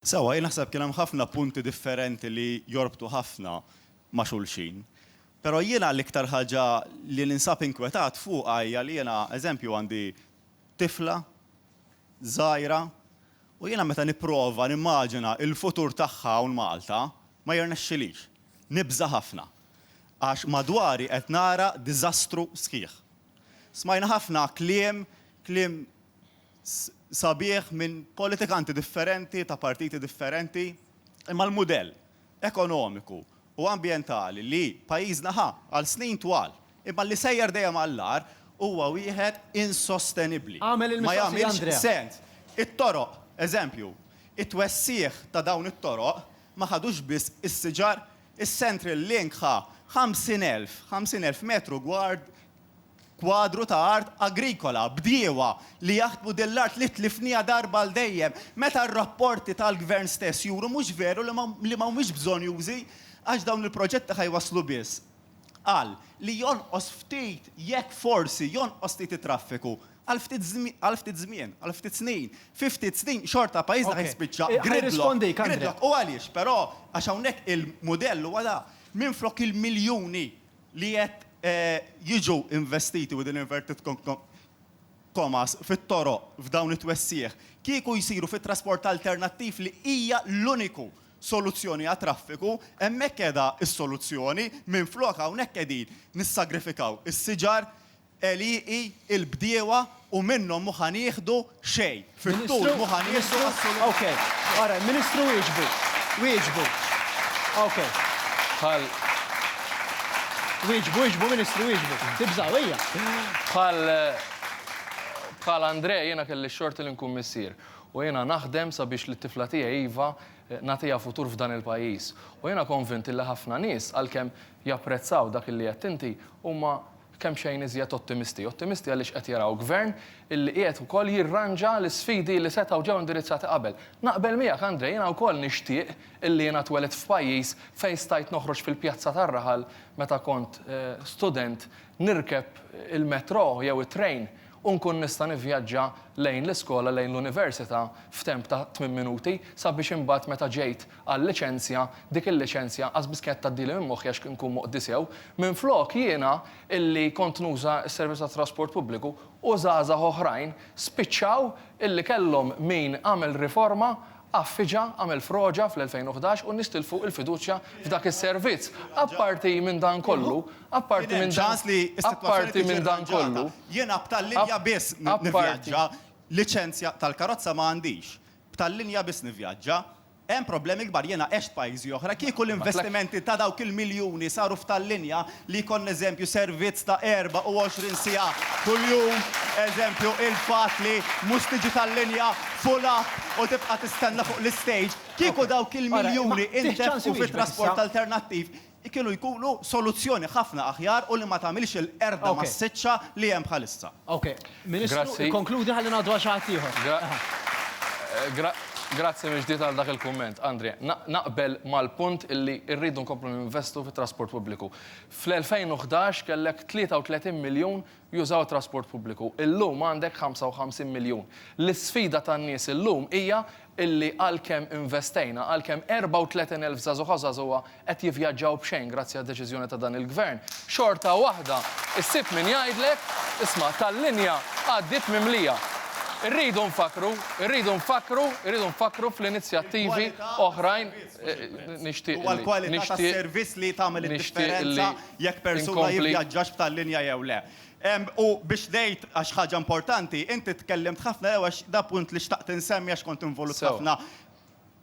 Sewwa, jien naħseb kien hemm ħafna punti differenti li jorbtu ħafna ma' xulxin. Però jiena l-iktar ħaġa li ninsab inkwetat fuqha hija li jiena, eżempju, għandi tifla żgħira u jiena meta nipprova nimmaġina l-futur tagħha hawn Malta, ma jirnexxilix. Nibża' ħafna. Għax madwari qed nara diżastru sħiħ. Smajna ħafna kliem, kliem sabiħ minn politikanti differenti ta' partiti differenti, imma l-mudell ekonomiku u ambjentali li pajjiżna ħa għal snin twal, imma li sejjer dejjem għall-agħar, huwa wieħed insostenibbli. Ma jagħmilx sens. It-toroq, eżempju, it-twessigħ ta' dawn it-toroq ma ħadux biss is-siġar, is-Central Link ħa 50,000, 50,000 metru gward kwadru ta' art agrikola, bdiewa li jaħdmu din l-art li tlifniha darba għal dejjem, meta r-rapporti tal-Gvern stess juru mhux veru li ma li ma humiex bżonjużi għax dawn il-proġetti ħa jwasslu biss għal li jonqos ftit, jekk forsi, jonqos ftit it-traffiku għal ftit għal ftit żmien, għal ftit snin. Fi ftit snin xorta pajjiżna ħa jispiċċa gridlock, gridlock. U għaliex però? Għax hawnhekk il-mudell huwa da, minflok il-miljuni, li qed jiġu investiti, within inverted commas, fit-toroq f'dawn it-twessigħ, kieku jsiru fit-trasport alternattiv li hija l-uniku soluzzjoni għat-traffiku, hemmhekk qiegħda s-soluzzjoni, minflok hawnhekk qegħdin nissagrifikaw is-siġar għelieqi, il-bdiewa u minnhom mhu ħa nieħdu xejn. Fit-tul mhu ħa nieħdu assolutament. Bħal Andrè jiena kelli x-xorti li nkun missier u jiena naħdem sabiex lit-tifla tiegħi Eva nagħtiha futur f'dan il-pajjiż. U jiena konvint li ħafna nies għalkemm japprezzaw dak li għedt inti huma kemxejn iżjed ottimisti. Ottimisti għaliex qed jaraw Gvern illi qiegħed ukoll jirranġa l-isfidi illi setgħu ġew indirizzati qabel. Naqbel miegħek, André, jiena wkoll nixtieq illi jiena twelidt f'pajjiż fejn stajt noħroġ fil-pjazza tar-raħal meta kont student, nirkeb il-metro jew it-train u nkun nista' nivvjaġġa lejn l-iskola, lejn l-università f'temp ta' tmien minuti sabiex imbagħad meta ġejt għal liċenzja, dik il-liċenzja qas biss kienet tgħaddili minn moħħi għax inkun moqdi sew. Minflok jiena illi kont nuża s-servizz tat-trasport pubbliku u żgħażagħ oħrajn spiċċaw illi kellhom min għamel riforma għaffiġa, għamel froġa fl-2011 u n-nies tilfu il-fiduċja f'dak is-servizz. Apparti minn dan kollu, apparti minn dan, apparti minn dan kollu, app, apparti. Liċenzja tal-karozza ma għandix. B'tal-linja biss nivvjaġġa. Hemm problemi kbar, jiena għext f'pajjiżi oħra, kieku l-investimenti ta' dawk il-miljuni saru f'tal-linja li jkollna eżempju servizz ta' 24 siegħa kuljum, eżempju il-fatt li mhux tiġi tal-linja full up u tibqa' tistenna fuq l-istage, kieku dawk il-miljuni ntefqu fit-trasport alternattiv, kienu jkunu soluzzjoni ħafna aħjar u li ma tagħmilx il-qerda massiċċa li hemm bħalissa. Ok. Ministru, ikkonkludi ħalli ngħaddu għal xi ħadd ieħor. Grazzi mill-ġdid għal dak il-kumment, Andrè. Naqbel mal-punt li rridu nkomplu ninvestu fit-trasport pubbliku. Fl-2011 kellek 33 miljun jużaw it-trasport pubbliku. Illum għandek 55 miljun. L-isfida tan-nies illum hija illi għalkemm investejna, għalkemm 34 elf żagħżugħa u żagħżugħa qed jivvjaġġaw b'xejn grazzi għad-deċiżjoni ta' dan il-Gvern, xorta waħda ssib min jgħidlek, isma', tal-linja għaddiet mimlija. Irridu nfakkru, irridu nfakkru, irridu nfakkru fl-inizjattivi oħrajn, nixtieq illi, nixtieq illi, nixtieq illi, jekk persuna jivvjaġġax b'tal linja jew le. U biex ngħid, għax ħaġa importanti, inti tkellimt ħafna jew għax da punt li xtaqt insemmi għax kont involut ħafna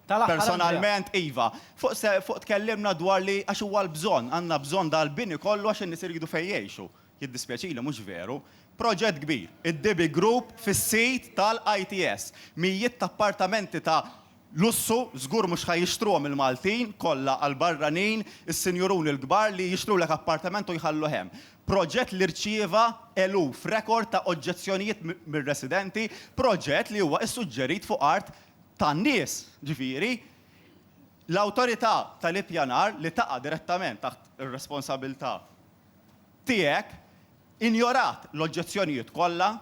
personalment, iva. Fuq tkellimna dwar li għax huwa l-bżonn, għandna bżonn dal-bini kollu għax in-nies iridu fejn jgħixu. Jiddispjaċili, mhux veru. Proġett kbir, id-Dibi Group fis-sit tal-ITS. Mijiet ta' appartamenti ta' Lussu, żgur mhux ħa jixtruhom il-Maltin, kollha għal barranin, is-sinjuruni l-kbar li jixtrulek appartament u jħalluh hemm. Proġett li rċieva eluf rekord ta' oġġezzjonijiet mir-residenti, proġett li huwa ssuġġerit fuq art tan-nies, ġifieri l-Awtorità tal-Ippjanar li taqa' direttament taħt ir-responsabilità tiegħek, injorat l-oġġezzjonijiet kollha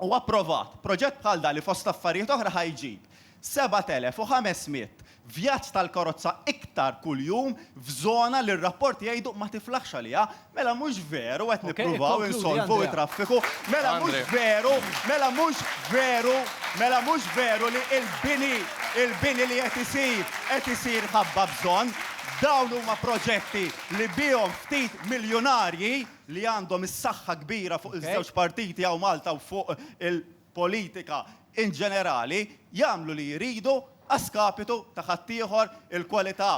u approvat proġett bħal dan li fost affarijiet oħra ħa jġib 7,500 vjaġġ tal-karozza iktar kuljum f'żona li r-rapporti jgħidu ma tiflaħx għaliha. Mela mhux veru qed nippruvaw insolvu t-traffiku? Mela mhux veru, mela mhux veru, mela mhux veru li l-bini, il-bini li qed isir, qed isir ħabba bżonn? Dawn huma proġetti li bihom ftit miljunarji, li għandhom is-saħħa kbira fuq iż-żewġ partiti hawn Malta u fuq il-politika in ġenerali, jagħmlu li jridu a skapitu ta' ħaddieħor, il-kwalità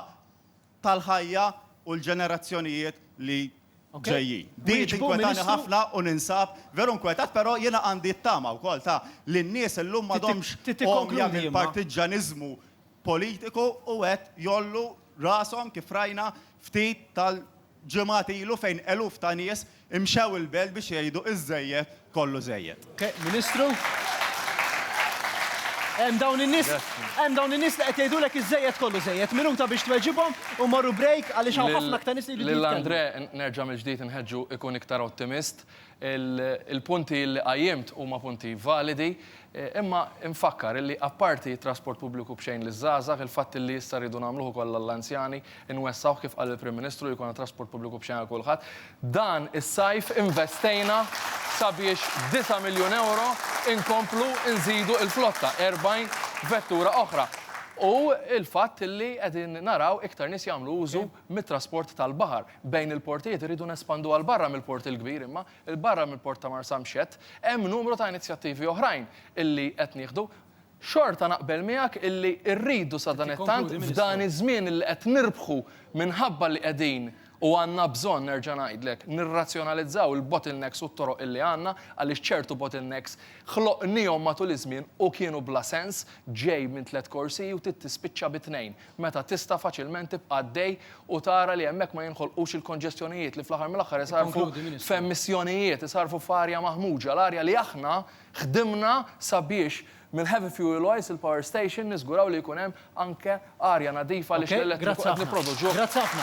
tal-ħajja u l-ġenerazzjonijiet li ġejjin. Din tinkwetani ħafna u ninsab veru nkwetat però jiena għandi t-tama wkoll ta' li n-nies illum m'għadhomx għomja mill-partiġġaniżmu politiku u qed jgħollu rashom kif rajna ftit tal ġimgħat ilu fejn eluf ta' nies imxew il-belt biex jgħidu iż-żejjed kollu żejjed. Ministru, hemm dawn in-nies hemm dawn in-nies li qed jgħidulek iż-żejjed kollu żejjed. Minuta biex tweġibhom u mmorru break għaliex hawn ħafna aktar nies li jridu jitkellmu. Lil Andrè nerġa' mill-ġdid inħeġġu ikun iktar ottimist. Il-punti li qajjimt huma punti validi, imma nfakkar illi apparti t-trasport pubbliku b'xejn liż-żgħażagħ, il-fatt illi issa rridu nagħmluh ukoll għall-anzjani, inwessgħuh kif qal il-Prim Ministru li jkollna trasport pubbliku b'xejn għal kulħadd. Dan is-sajf investejna sabiex b'disa' miljun ewro inkomplu nżidu il-flotta, 40 vettura oħra. U l-fatt illi qegħdin naraw iktar nies jagħmlu użu mit-trasport tal-baħar bejn il-portijiet irridu nespanduha 'l barra mill-Port il-Kbir imma 'l barra mill-Port ta' Marsamxett hemm numru ta' inizjattivi oħrajn illi qed nieħdu. Xorta naqbel miegħek illi rridu sadanittant f'dan iż-żmien illi qed nirbħu minħabba li qegħdin u għandna bżonn nerġa' ngħidlek nirrazzjonalizzaw il-bottlenecks u t-toroq illi għandna għaliex ċertu bottlenecks ħloqnihom matul iż-żmien u kienu bla sens ġej minn tliet korsiji u trid tispiċċa bi tnejn. meta tista' faċilment tibqa' għaddej u tara li hemmhekk ma jinħolqux il-konġestjonijiet li fl-aħħar mill-aħħar isarrfu f'emissjonijiet, isarrfu f'arja maħmuġa, l-arja li aħna ħdimna sabiex mill-heavy fuel oils, il-power station, niżguraw li jkun hemm anke arja nadifa għaliex l-elettriku qed nipproduċuh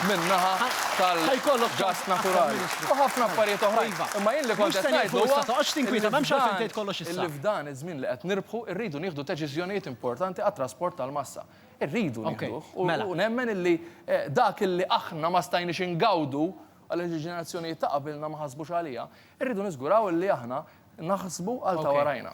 min-naħa tal-gass naturali. U ħafna affarijiet oħrajn. Imma jien li kont qed ngħid huwa li f'dan iż-żmien li qed nirbħu rridu nieħdu deċiżjonijiet importanti għat-trasport tal-massa. Irridu nieħduh u nemmen illi dak illi aħna ma stajniex ingawdu għaliex il-ġenerazzjonijiet ta' qabilna ma ħasbux għaliha, irridu niżguraw illi aħna naħsbu għal ta' warajna.